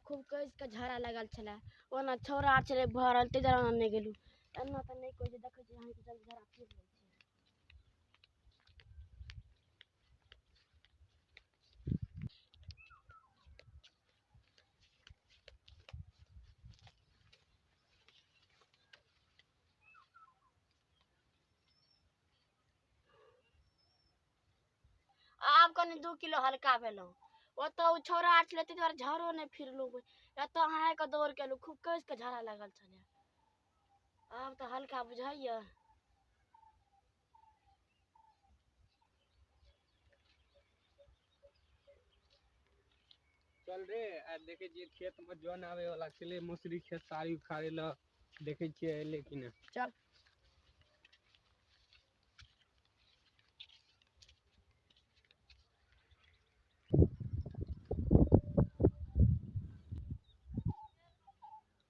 खूब कस के झाड़ा लगल छले ओना छौड़ा आर छले भरल ताहि दुआरे अहाँ नहि गेलहुँ एना तऽ नहि कोइ जे देखै छी अहाँके जल झाड़ा फेर लै छै आब कनि दू किलो हल्का भेलहुँ ओतऽ ओ छौड़ा आर छलै ताहि दुआरे झरो नहि फिरलहुँ एतऽ अहाँ आके दौड़ केलहुँ खूब कसि कऽ झड़ा लागल छलै आब तऽ हल्का बुझाइए चल रे आ देखे छियै खेत में जन आवे वाला छले मौसरी खेत सारी उखाड़े ल देखे छियै एले कि ने चल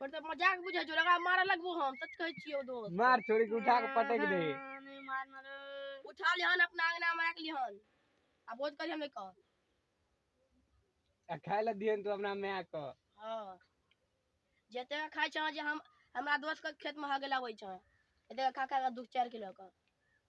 पर तऽ मजाक बुझै छौ ओकरा मारऽ लगबो हम सच कहै छियौ दोस्त मार छोड़ी के उठा के पटक दे नहीं मारना रे उठा लिहन अपना अंगना में राख लिहन आ बोझ करियो नहीं कह आ खाय ला दिहन तू अपना माय के हाँ जते का खाइ छह जे हम हमरा दोस्त के खेत में हगे लाबै छह एते का खा खा के दुख चार किलो के